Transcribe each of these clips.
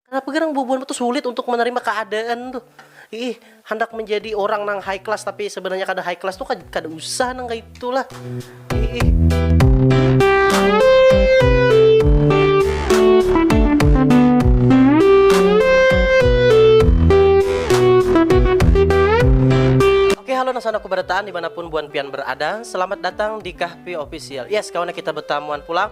Kenapa gerang bubuhan tu sulit untuk menerima keadaan tuh. Iih, hendak menjadi orang nang high class tapi sebenarnya kada high class tuh kada usah nang kaya itu lah. Oke halo nang sanak kubarataan dimanapun buhan pian berada, selamat datang di Kahpi Official. Yes kawana kita betamuan pulang.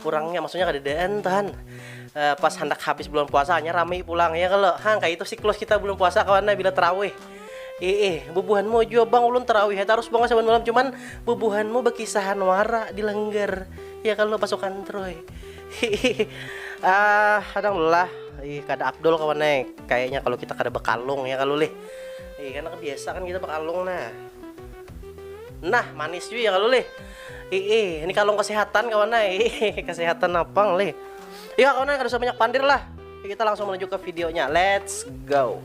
kurangnya maksudnya kada daan tahan uh, pas hendak habis bulan puasa hanya ramai pulang ya kalau hang kayak itu siklus kita bulan puasa kawannya bila terawih Eh, bubuhanmu juga bang ulun terawih terus bang saban malam cuman bubuhanmu berkisahan wara di lengger ya kalau pasukan troy ah kadang lah ih kada abdul kawan eh. kayaknya kalau kita kada bekalung ya kalau leh ih karena kebiasa kan kita bekalung nah Nah, manis jui ya kalu lih. Ih, ini kalung kesehatan kawan ai. kesehatan napang lih. Iya kawan ai kada usah banyak pandir lah. Kita langsung menuju ke videonya. Let's go.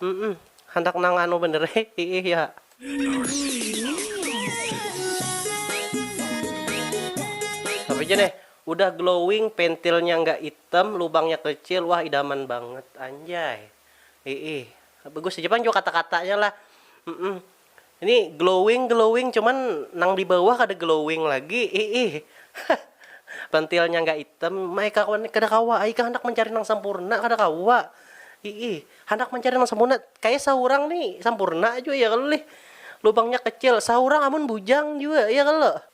Humm handak nang anu banar ai iih ya. Tapi ja neh udah glowing pentilnya nggak item lubangnya kecil wah idaman banget anjay iih bagus haja pang jua kata katanya lah humm. Ini glowing glowing cuman nang di bawah kada glowing lagi iih pentilnya nggak item mai kawan kada kawa ai kah handak mencari nang sempurna kada kawa iih handak mencari nang sempurna kaya saurang nih sempurna jua ya kalo lih lubangnya kecil saurang amun bujang jua ya kalo.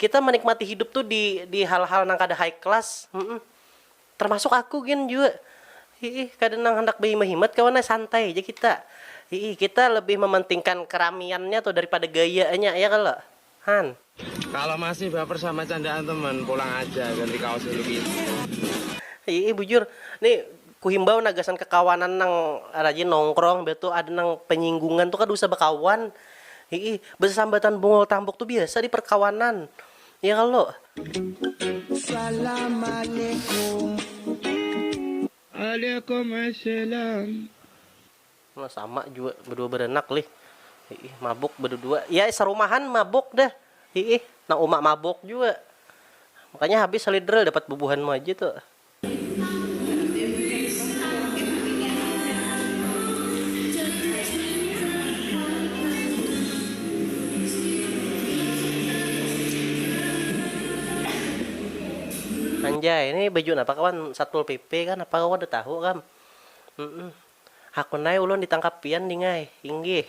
Kita menikmati hidup tuh di di hal-hal nang kada high class, humm. Termasuk aku gin jua. Hiih, kada nang handak bahimat-himat kawan ai, santai haja kita. Hiih, kita lebih mementingkan keramiannya tuh daripada gayanya, ya kalo? Han. Kalo masih baper sama candaan teman, pulang aja, ganti kaos dulu gin. Hiih, bujur. Nih, Kuhimbau nah gasan kakawanan nang rajin nongkrong imbah tu ada nang panyinggungan tu kada usah bakawan hii basasambatan bungul tambuk tu biasa di parkawanan ya kalo. Waalaikumsalam. Nah sama jua badua baranak lih hii mabuk badadua ya sarumahan mabuk dah hii nang uma mabuk jua makanya habis salidra dapat bubuhanmu aja tu. Anjay, ini baju napa kawan, satpol pp kah napa kawa kada tahu kam, humm, hakun ai ulun ditangkap pian dingai, inggih.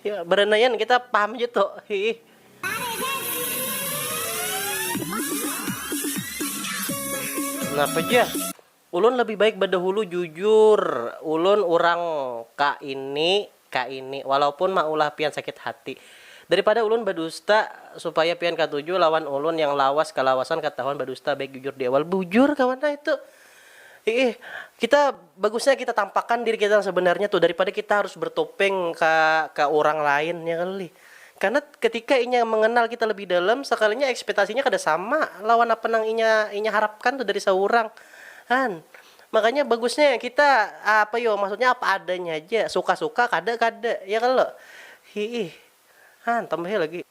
ya berenaian kita paham aja tuh hi kenapa aja ulun lebih baik bedahulu jujur ulun urang ka ini ka ini walaupun maulah pian sakit hati daripada ulun bedusta supaya pian katuju lawan ulun yang lawas kalawasan ketahuan bedusta baik jujur di awal bujur kawan nah itu Iih, kita bagusnya kita tampakan diri kita yang sebenarnya tuh daripada kita harus bertopeng ka ka urang lain ya kalo lih, karena ketika inya mengenal kita lebih dalam sekalinya ekspetasinya kada sama lawan apa nang inya inya harapkan tuh dari seurang kan, makanya bagusnya kita apa yo maksudnya apa adanya haja suka suka kada kada ya kalo, hiih han tambahi lagi.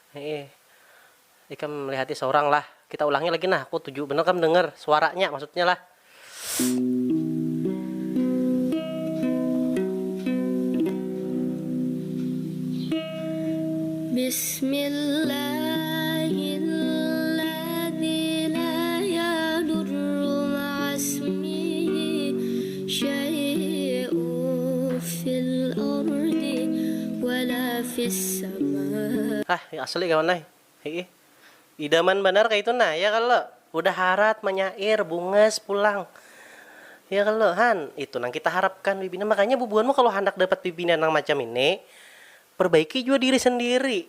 Hiih. Ikam lihati saurang lah. Kita ulangi lagi nah, aku tuju banar kam dengar suaranya maksudnya lah. Bismillahilladzi laa yadurru ma'asmihi syai'un fil. Hah ya asli kawan ai, hiih. Idaman banar kaitu nah, ya kalo? Udah harat manyair, bungas pulang. Ya kalo? Han, itu nang kita harapkan bibinan. Makanya bubuhanmu kalo handak dapat bibinan nang macam ini, perbaiki jua diri sendiri.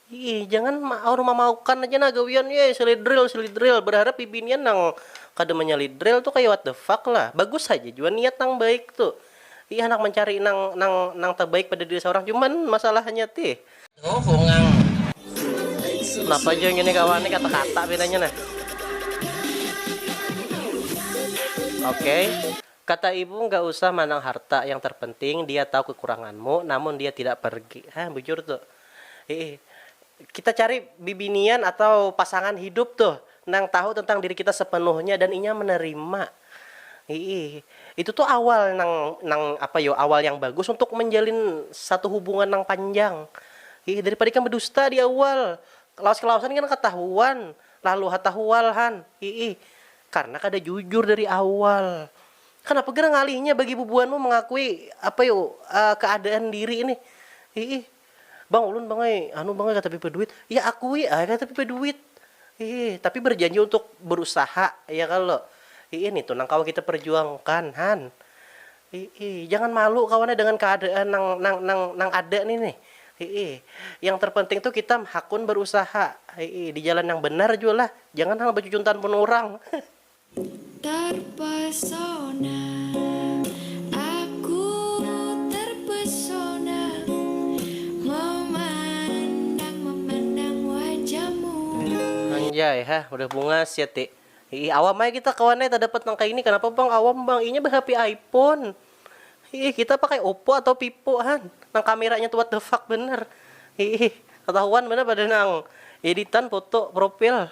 Iih jangan maor mamaukan aja nah gawian yeh selidril selidril berharap bibinian nang kada menyelidril tu kaya what the fuck lah bagus haja jua niat nang baik tu iih handak mencari nang nang nang tebaik pada diri seorang cuman masalahnya tih napa jua ngini kawan nih kata kata pinanya nah ok kata ibu enggak usah manang harta yang terpenting dia tahu kekuranganmu namun dia tidak pergi hah bujur tu. Hiih. Kita cari bibinian atau pasangan hidup tuh nang tahu tentang diri kita sepenuhnya dan inya menerima. Hiih. Itu tuh awal nang nang apa yo awal yang bagus untuk menjalin satu hubungan nang panjang. Hiih. Daripada ikam bedusta di awal. Lawas kelawasan kan ketahuan. Lalu ha tahual han. Hiih. Karena kada jujur dari awal. Kanapa gerang ngalihnya bagi bubuhanmu mangakui apa yu kaadaan diri nih, hiih. Bang ulun bang ai anu bang ai katapi baduit, ya akui ai katapi baduit, hiih. Tapi barjanji untuk barusaha ya kalo, hiih nitu nang kawa kita parjuangkan han, hiih. Jangan malu kawan ai dengan kaadaan nang nang nang nang ada nih nih, hiih. Yang terpenting tuh kita hakun barusaha, hiih. Di jalan yang banar jua lah, jangan hang bacucuntan pun urang. Terpesona, aku terpesona memandang memandang wajahmu. Anjay, hah udah bunga sia ti. Iih awam ai kita kawan ai tadapat nang kaini kanapa bang awam bang inya ba hp iphone iih kita pakai oppo atau vivo han nang kameranya tu what the fuck banar iih katahuan banar pada nang editan foto profil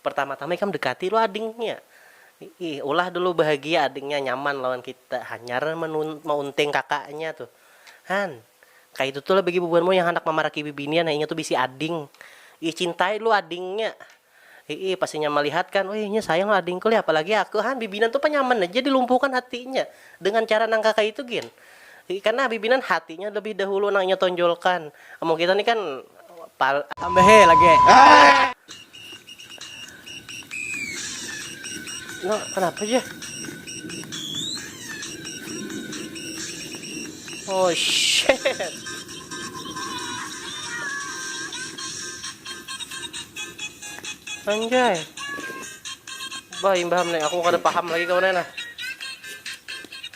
Pertama-tama ikam dekati dulu adingnya. Ih, ulah dulu bahagia adingnya nyaman lawan kita. Hanyar maunting kakaknya tuh. Han, kaitu tu lah bagi bubuhanmu yang handak mamaraki bibinian, inya tu bisi ading. Ih, cintai dulu adingnya. Hiih, pas inya malihat kan, wih inya sayang lawan adingku lih, apalagi aku. Han, bibinan tu pa nyaman haja dilumpuhkan hatinya dengan cara nang kakaitu gin. Karna habibi nan hatinya lebih dahulu nang inya tonjolkan. Amun kita ni kan pal. Tambahi lagi. Nah, kenapa aja? Oh shit. Anjay. Bah imbah aku kada paham lagi kawan nah.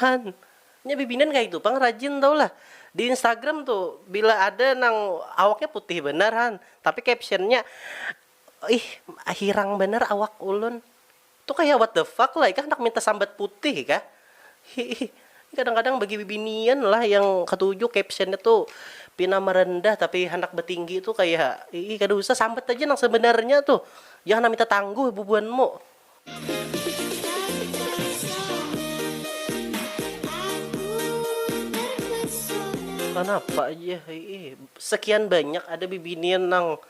Han, nya bibinan kaitu pang rajin tahu lah. Di Instagram tu bila ada nang awaknya putih banar han, tapi captionnya ih hirang banar awak ulun. Tu kaya what the fuck lah ikah handak minta sambat putih kah? Hiih. Kadang kadang bagi bibinian lah yang katuju captionnya tu pina merendah tapi handak betinggi tu kaya ih kada usah sambat aja nang sebenarnya tu. Jangan nang minta tangguh bubuhanmu. Kanapa jar hiih sekian banyak ada bibinian nang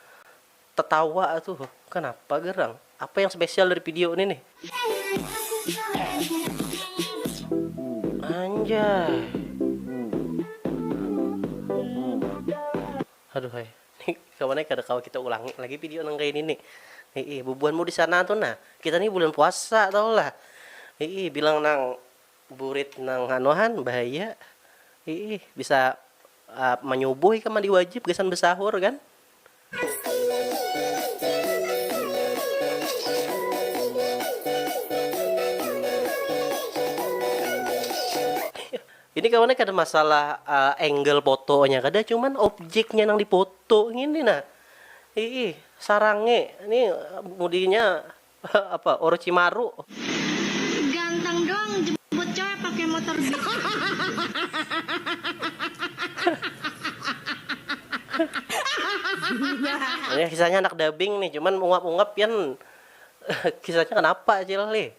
tetawa tuh kanapa garang apa yang spesial dari pidio ini nih anjay. Aduhai. Ni kawan ai kada kawa kita ulangi lagi video nang kaya ini ni. Hiih, bubuhanmu di sana tu nah. Kita ni bulan puasa tahu lah. Hiih, bilang nang burit nang anu han bahaya. Hiih, bisa manyubuh ikam mandi wajib gasan besahur kan. Ini kawannya kada masalah angle fotonya kada cuman objeknya nang difoto ngini nah iih sarange ni mudinya apa orochimaru. Ganteng dong jemput coe pake motor beach. Kisahnya anak dabing nih cuman ungap ungap pian kisahnya kenapa acil nih.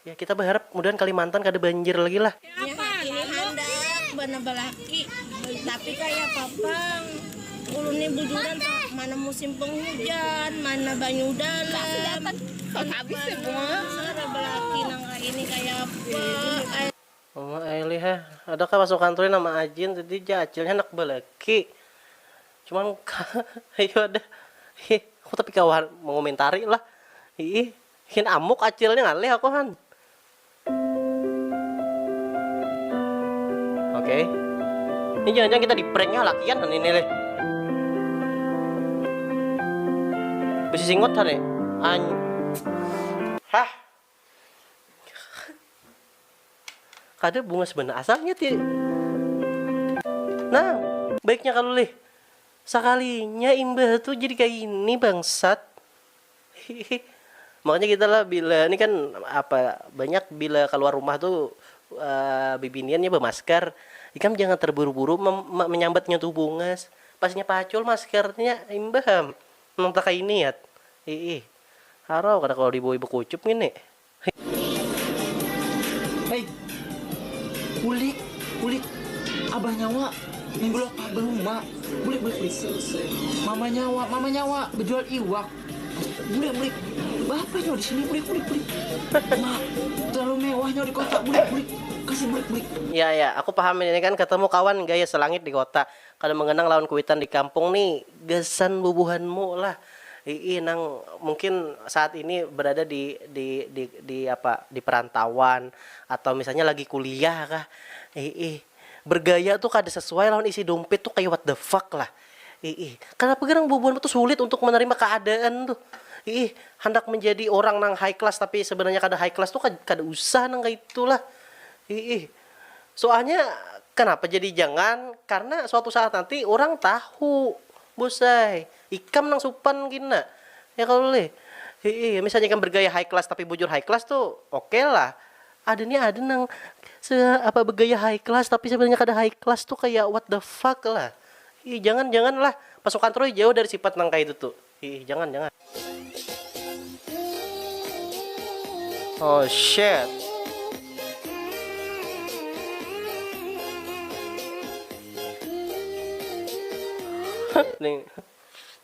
Ya kita baharap mudahan kalimantan kada banjir lagi lah. Ini handak banabah laki, tapi kaya apa pang, ulun ni bujuran pang, mana musim penghujan, mana banyu dalam, banabah laki nang kaya ini kaya apa. Mama Aili ha, ada kah pasukan tu nama Ajin tadi ja acil nya handak balaki, cuman ka, ayu ada, hi aku tapi kawa mangomentari lah, hiih. Hin amuk acil nih ngalih aku han. Oke. Ini jangan-jangan kita di pranknya lakian han ini leh. Bisi singot han nih. An Hah. Kada bungas banar asalnya ti. Nah, baiknya kalau lih. Sakalinya imbah tuh jadi kayak ini bangsat. Hihih. Makanya kita lah bila ni kan apa banyak bila kaluar rumah tu bibinian nya bamaskar, ikam jangan terburu-buru menyambat nya tu bungas, pas nya pacul maskar nya imbah am nang takaini at, iih harau kada kawa dibawi bakucup ngini. Hei, bulik, bulik, abah nyawa, minggu lapan bahuma, bulik, bulik, bulik, mama nyawa, mama nyawa, bejual iwak, bulik, bulik, bapa nyawa di sini, bulik, bulik, bulik, ma, terlalu mewah nyawa di kota, bulik, bulik, kasih, bulik, bulik. Ya, ya, aku paham ini kan ketemu kawan gaya selangit di kota, Kada mangganang lawan kuitan di kampung ni gasan bubuhanmu lah iih nang mungkin saat ini berada di di di di apa di perantauan atau misalnya lagi kuliah kah iih bergaya tu kada sesuai lawan isi dumpit tu kaya what the fuck lah iih kanapa garang bubuhanmu tu sulit untuk menerima keadaan tu iih handak menjadi orang nang high class tapi sebenarnya kada high class tu kada usah nang kaya itu lah iih. Suahnya kanapa jadi jangan karna suatu saat nanti urang tahu bus ai ikam nang supan gina ya kalo lih hii misalnya ikam bergaya high class tapi bujur high class tu ok lah ada nih ada nang se apa begaya high class tapi sebenarnya kada high class tu kaya what the fuck lah hii jangan jangan lah pasukan troy jauh dari sifat nang kaya itu tu. Hiih jangan jangan. Oh shit. Nih,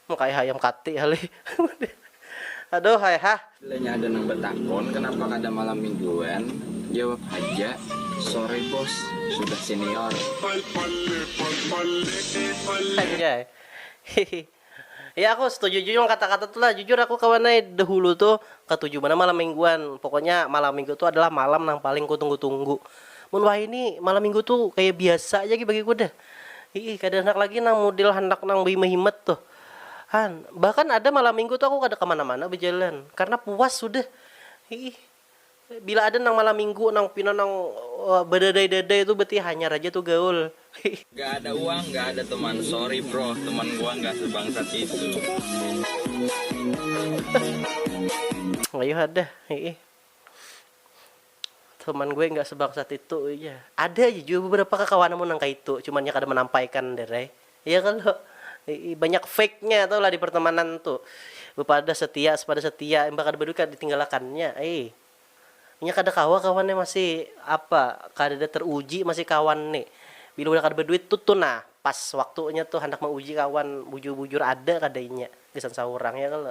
mau kayak ayam kati kali. Aduh, hai ha. Bilanya ada nang betakon kenapa kada malam mingguan, jawab haja, sorry bos, sudah senior. Anjay. Hihi. Ya aku setuju jua wan kata kata tu lah jujur aku kawan ai dahulu tu katuju banar malam mingguan pokoknya malam minggu tu adalah malam nang paling ku tunggu tunggu mun wahini malam minggu tu kaya biasa aja gin bagiku dah hiih kada handak lagi nang mudel handak nang bahimat himat tu han bahkan ada malam minggu tu aku kada kamana mana bajalan karna puas sudah hiih. Bila ada nang malam minggu nang pina nang badadai-dadai tu berarti hanyar aja tu gaul. Ga ada uang ga ada teman sorry bro teman gua ga sebangsat itu. Ayuh ada hiih. Teman gue ga sebangsat itu ujar. Ada aja jua beberapa kakawananmu nang kaitu cuman nya kada manampaikan Derai. Iya kalo, banyak fake nya tahu lah di pertemanan tu, bepada setia sepada setia imbah kada baduit kada ditinggalakan nya ai, inya kada kawa kawan nya masih apa kadada teruji masih kawan ni, bila udah kada baduit tu tu nah pas waktunya tu handak mauji kawan bujur bujur ada kada inya gasan saurang ya kalo.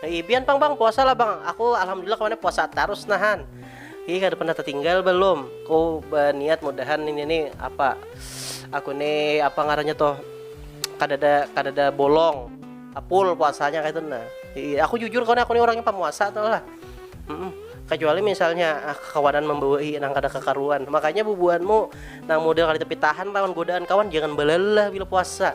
Ih, pian pang bang puasa lah bang. Aku alhamdulillah kemana puasa terus nahan. Ih, kada pernah tertinggal belum. Ku berniat mudahan ini nih apa aku nih apa ngarannya toh kada ada kada ada bolong apul puasanya kayak itu nah. Ih, aku jujur karena aku nih orangnya pemuasa tuh lah. Mm-mm. Kecuali misalnya ah, kawanan membawai nang kada kekaruan. Makanya bubuhanmu nang model kada tapi tahan lawan godaan kawan jangan balalah bila puasa.